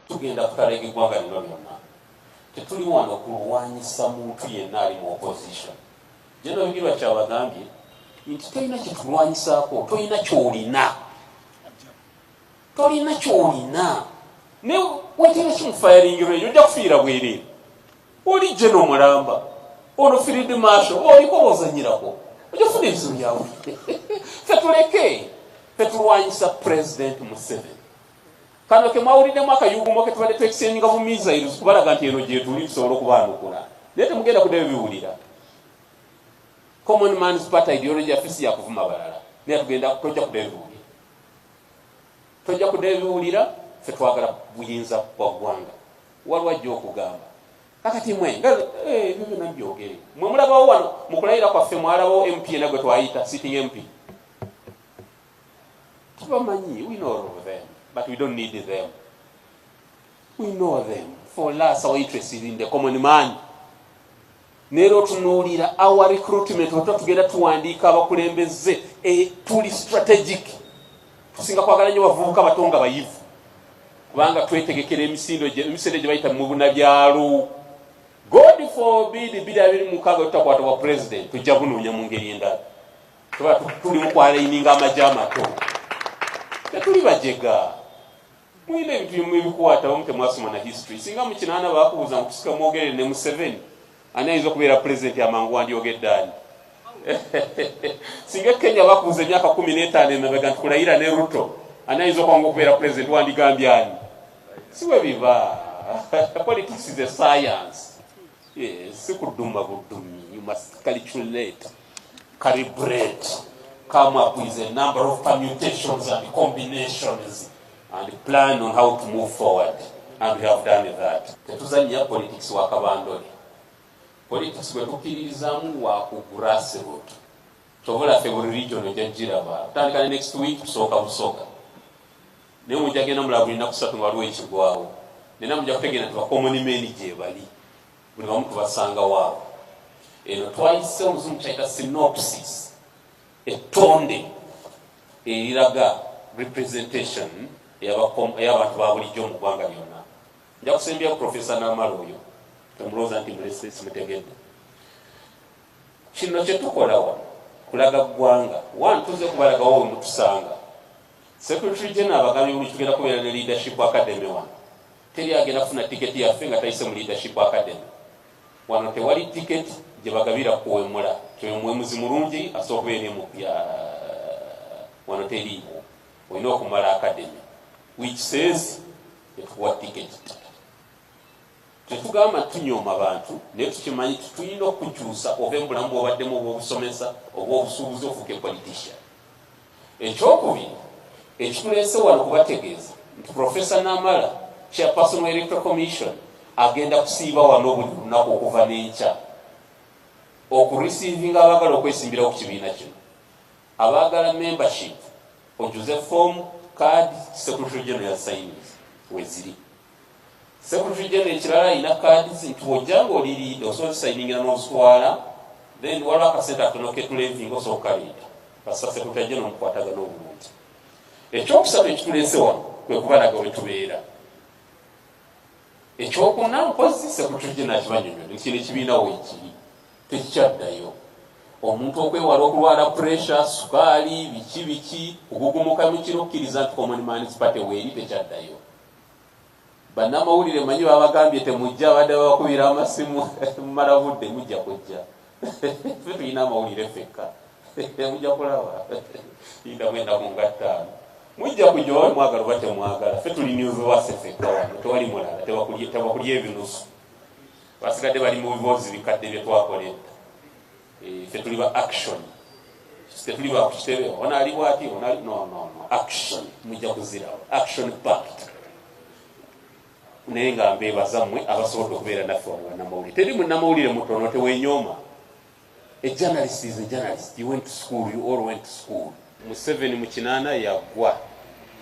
tugenda kutalega eggwanga lino lyonna tetuli wano kulwanyisa muntu yenna ali mu opposition jeno bigirwa kyabagambye nti tolina kyetulwanyisaako tolina kyolina tolina kyolina ne wetera kimufayaringiro eyo ojja kufiira bwereere oli jeno mulamba ono firidi maasho oliko ozanyirako ojja kufuna ebizibu byawe fetuleke fetulwanyisa pulezidenti museveni Kano ke mwawuliddemu akayugumo ke tubadde twekiseenyinga mu missiles kubalaga nti eno gyetuli tusobola okubaanukula naye temugenda kuddayo biwulira common man's party ideology yaffe si yakuvuma balala naye tugenda tojja kuddayo biwulira tojja kuddayo biwulira fe twagala buyinza bwa ggwanga waliwo ajja okugamba kakati mwe nga eh, ebyo byonna byogere mwe mulabawo wano mu kulayira kwaffe mwalabawo mp ena gwe twayita sitting mp tubamanyi we know of them but we don't need them we know them for us our interest is in the common man neera otunuulira our recruitment oto tugenda tuwandiika abakulembeze e, tuli strategic tusinga kwagala nyo bavubuka bato nga bayivu kubanga twetegekera emisindo emisendo gye bayita mu bunabyalo god forbid biri abiri mukaaga tutakwata bwa president tujja bunoonya mu ngeri endala tuba tuli mukwalaininga amagye amato tetuli bajega mulina ebintu bimu ebikwatawo nga temwasoma na history singa mukinaana bakubuuza mukusika mwogerere ne museveni ani ayinza okubeera pulezidenti amangu wandyogedde ani singa kenya bakubuuza emyaka kumi n'etaano emabega nti kulayira ne ruto ani ayinza okwanga okubeera pulezidenti wandigambye ani siwe biba politics is a science yes, si kuduma budumi you must calculate Curry bread come up with a number of permutations and combinations and plan on how to move forward and we have done that. Tetuzannya politics wa kabandole. Politics bwe tukiririzaamu wa ku grassroot. Kyobola ffe buli region ojja giraba. Tutandika ne next week tusooka busooka. Naye mujja genda mulaba buli nnaku ssatu nga waliwo ekigwawo. Nena mujja kutegeera nti bakomoni meni gyebali. buli wamu tubasanga waawo eno twayise oluzungu kyayita synopsis ettonde eriraga representation eyabantu babulijjo mu ggwanga lyonna nja kusembyayo profesa namala oyo temulowooza nti mulese simutegedde kino kyetukola wano kulaga ggwanga one tuze kubalagawo wemutusanga secretary general abagambye buli tugenda kubeera ne leadership academy wano Teri agenda kufuna tiketi yaffe nga tayise mu Leadership Academy. Wano tewali tiketi gye bagabira kuwemula. Kyoyo muwemuzi mulungi asobola okubeera ne mu wano teriiwo. Olina okumala academy which says etukuwa tiketi. Tetugamba tunyooma bantu naye tukimanyi tulina okukyusa ove mu bulamu bwobaddemu obw'obusomesa obw'obusuubuzi ofuuke politician. Ekyokubiri ekituleese wano kubategeeza nti Professor Namala Chairperson wa Electoral Commission agenda kusiiba wano buli lunaku okuva n'enkya okurisiivinga abaagala okwesimbirawo ku kibiina kino abaagala membership ojuze form card secretary general signs weziri Secretary General ekirala alina kaadi ze nti wojja ng'oli liida osobola kusayingira n'ozitwala then waliwo akasente akatono ketulevinga osobola okukaliida kasita Secretary General omukwatagana obulungi ekyokusatu ekituleese wano kwe kubalaga we tubeera ekyokuna mpozi Secretary General akibanyonyola ekino ekibiina weekiri tekikyaddayo omuntu okwewala okulwala puresha sukaali biki biki kugugumuka mukiro kukkiriza nti common man's party weeri tekyaddayo Bannamawulire manyi babagambye temujja badde babakubira amasimu mumala budde mujja kujja fe tulina amawulire fekka mujja kulaba inda mwenda ku ngattaano mujja kujja oba mwagala oba temwagala fe tuli niuziwase fekka wano tewali mulala tebakulya ebinusu basigadde bali mu biboozi bikadde bye twakola edda Eh, ffe tuli ba action ffe tuli ba kukitebe ono ali bwati ono ali no no no action mujja kuzirawo action pact naye nga mbeebaza mmwe abasobodde okubeera naffe wano banamawulire teri munamawulire mutono tewenyooma a journalist is a journalist you went to school you all went to school museveni mu kinaana yagwa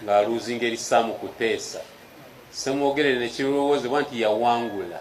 ng'aluuzinga erisaamu kuteesa semwogerere nekirowozebwa nti yawangula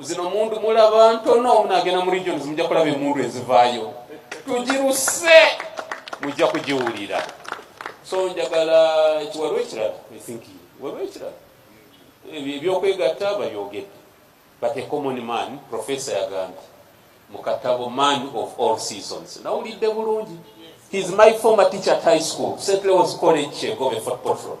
zino mundu mulaba ntono omunagenda mu regions mujja kulaba emundu ezivaayo tugiruse mujja kugiwulira so njagala kiwalwa ekirala think walwa ekirala ebyokwegatta babyogedde but a common man professor yagambye mu katabo man of all seasons nawulidde bulungi his my former teacher at high school st leos college chegobe fort portland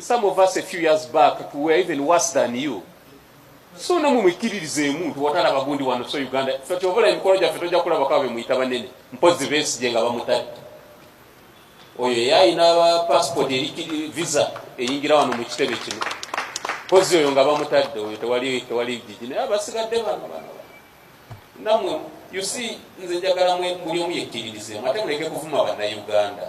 some of us a few years back we were even worse than you so namwe mwikkiririzeemu nti watala bagundi wano so uganda fe kyovola emikolo gyaffe tojja kulabakaba bemuyita banene mpozi besigye nga bamutadde oyo eyayina passport eri visa eyingira wano mu kitebe kino mpozi oyo nga bamutadde oyo tewali tewali jiji naye abasigadde bano bano namwe you see nze njagala muli omu yekkiririzeemu ate muleke kuvuma bannayuganda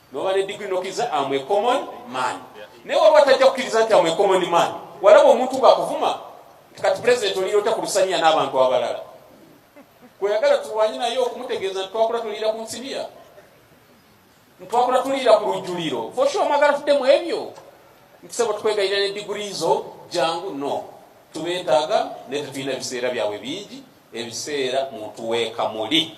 noba ne digiri nokiriza amwe common man naye waliwo atajja kukiriza nti amwe common man walaba omuntu ngakuvuma nti kati pulezidenti oliyota ku lusaniya n'abantu abalala kweyagala tulwanye naye okumutegeeza nti twakula tuliira ku nsiniya ntwakula tuliira ku lujjuliro fosha omwagala tudde mu ebyo ntisebo tukwegayira ne digiri zo jangu no tubetaaga naye tetulina biseera byabwe bingi ebiseera muntu wekamuli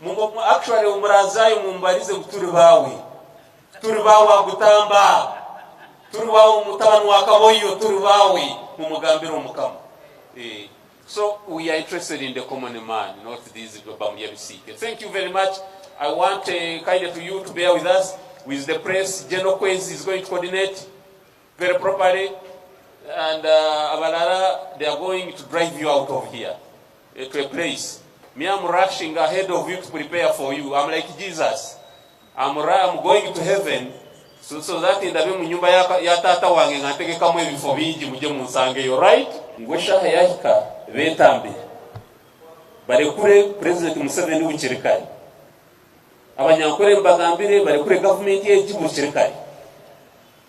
Mungu actually umurazayo mumbarize kuturi bawe turi bawe agutamba turi bawe mutabani wa kaboyo turi bawe mumugambira omukama eh. so we are interested in the common man not these bamuya bisike thank you very much i want uh, kindly to you to bear with us with the press general kwezi is going to coordinate very properly and uh, abalara they are going to drive you out of here uh, to a place me i'm rushing ahead of you to prepare for you i'm like jesus i'm, I'm going to heaven so, so that in the room nyumba ya, ya tata wange nga ntegekamu ebifo bingi muje munsangeyo right ngwe shaha yahika betambe barekure president museveni w'ikirikari abanyankore mbagambire barekure gavumenti y'egihugu kirikari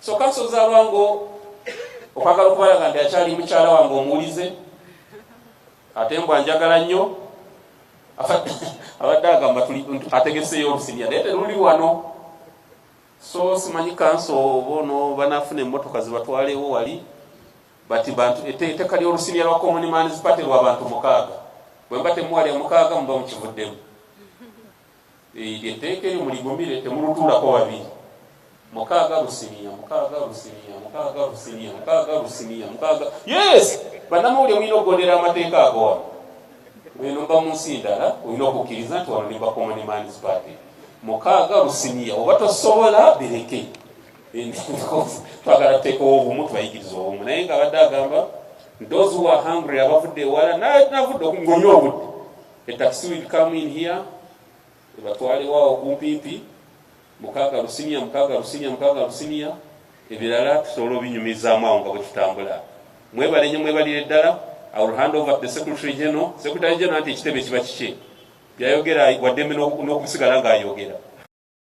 So kanso z'abango okwagala okubalaga nti akyali mukyala wange omuwulize ate mbwa njagala nnyo abadde agamba ategeseeyo olusibya naye teruli wano so simanyi kanso oba ono banaafuna emmotoka zibatwalewo wali bati bantu etteeka ly'olusibya lwa common man's party lwa bantu mukaaga bwe mba temuwalya mukaaga muba mukivuddemu Eryo etteeka eryo muligumire, temulutuulako babiri. Mukaaga lusiniya, mukaaga lusiniya, mukaaga lusiniya, mukaaga lusiniya, mukaaga yes. Bannamawulire mulina okugondera amateeka ago wano. Eno mba mu nsi ndala, olina okukkiriza nti wano ne Bakomani Man's Party mukaaga lusiniya, oba tosobola bireke. Twagala tuteekewo obumu, tubayigiriza obumu, naye nga abadde agamba those who are hungry abavudde ewala navudde ng'onywa obudde A taxi will come in here, ebatwale wao kumpipi mukaga rusinia mukaga rusinia mukaga rusinia ebirala tusobola obinyumizaamu awo nga bwetutambula mwebale nyo mwebalire ddala I will hand over to the secretary general secretary general nti ekitebe kiba kikye byayogera waddembe n'okusigala ng'ayogera